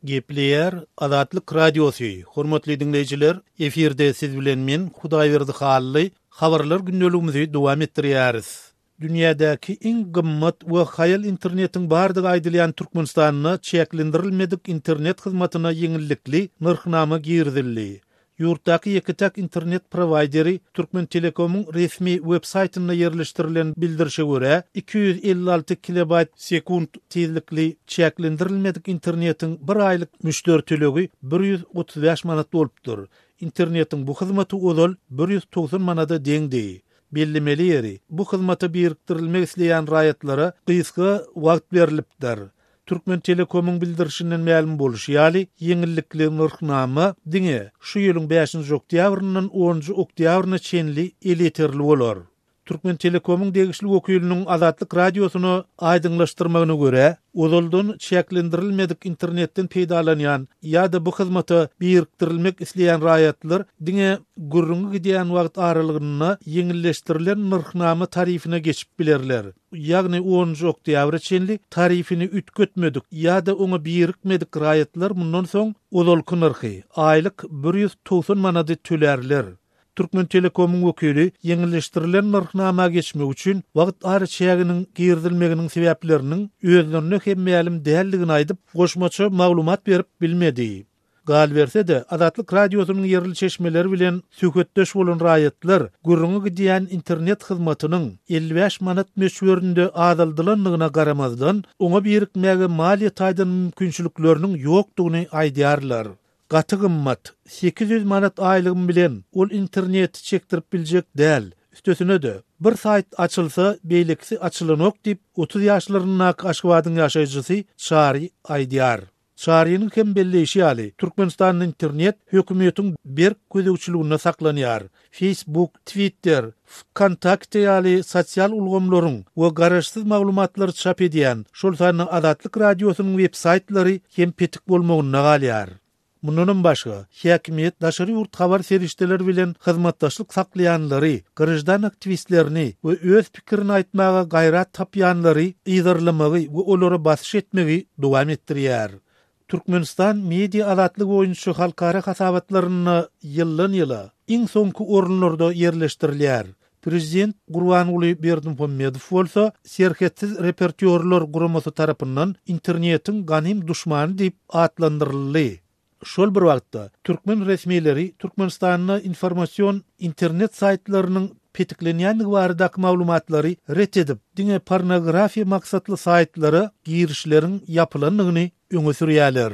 Gepleýär Azatlyk Radiosy, hormatly diňleýjiler, efirde siz bilen men, Hudaýberdi Hally, habarlar gündeligimizi dowam etdirýäris. Dünýädäki iň gymmat we haýal internetiň bardygy aýdylýan Türkmenistanda çäklendirilmedik internet hyzmatyna ýeňillikli nyrhnama girizildi. Ýurtdaky ýeke-täk internet prowaýderi Türkmentelekomyň resmi websaýtynda ýerleşdirilen bildirişe görä, iki ýüz elli alty kilobaýt sekunt tizlikli çäklendirilmedik internetiň bir aýlyk müşderi tölegi bir ýüz otuz bäş manat bolupdyr. Internetiň bu hyzmaty ozal bir ýüz togsan manada deňdi. Bellemeli ýeri, bu hyzmata birikdirilmek isleýän raýatlara gysga wagt berlipdir. Türkmentelekomyň bildirişinden mälim bolşy ýaly, ýeňillikli nyrhnama diňe şu ýylyň bäşinji oktýabryndan onunjy oktýabryna çenli elýeterli bolar. Türkmentelekomyň degişli wekiliniň Azatlyk Radiosyna aýdyňlaşdyrmagyna görä, ozaldan çäklendirilmedik internetden peýdalanýan ýa-da bu hyzmata birikdirilmek isleýän raýatlar diňe gürrüňi gidýän wagt aralygynda ýeňilleşdirilen nyrhnama tarifine geçip bilerler. ýagny onunjy oktýabra çenli tarifini üýtgetmedik ýa-da oňa birikmedik raýatlar mundan soň ozalky nyrhy, aýlyk bir ýüz togsan manady tölärler. Türkmentelekomyň wekili ýeňilleşdirilen nyrhnama geçmek üçin wagt araçäginiň girizilmeginiň sebäpleriniň özlerine hem mälim däldigini aýdyp, goşmaça maglumat berip bilmedi. Galyberse-de, Azatlyk Radiosynyň ýerli çeşmeleri bilen söhbetdeş bolan raýatlar gürrüňi gidýän internet hyzmatynyň elli bäş manat möçberinde azaldylandygyna garamazdan, oňa birikmäge maliýe taýdan mümkinçilikleriniň ýokdugyny aýdýarlar. Gaty gymmat. Sekiz ýüz manat aýlygym bilen ol interneti çekdirip biljek däl. Üstesine-de, bir saýt açylsa, beýlekisi açylanok diýip, otuz ýaşlaryndaky Aşgabadyň ýaşaýjysy Çary aýdýar. Çarynyň hem belleýşi ýaly, Türkmenistanda internet hökümetiň berk gözegçiliginde saklanýar. Facebook, Twitter, Wkontakte ýaly sosial ulgamlaryň we garaşsyz maglumatlary çap edýän, şol sanda Azatlyk Radiosynyň websaýtlary hem petik bolmagynda galýar. Mundanam başga, häkimiýet daşary ýurt habar serişdeleri bilen hyzmatdaşlyk saklaýanlary, graždan aktiwistlerini we öz pikirini aýtmaga gaýrat tapýanlary yzarlamagy we olara basyş etmegi dowam etdirýär. Türkmenistan media azatlygy boýunça halkara hasabatlarynda ýyldan-ýyla iň soňky orunlarda ýerleşdirilýär. Prezident Gurbanguly Berdimuhamedow bolsa Serhetsiz reportýorlar guramasy tarapyndan Internetiň ganym duşmany diýip atlandyryldy. Şol bir wagtda, türkmen resmileri Türkmenistanda informasion internet saýtlarynyň petiklenýändigi baradaky maglumatlary ret edip, diňe pornografiýa maksatly saýtlara girişleriň ýapylandygyny öňe sürýärler.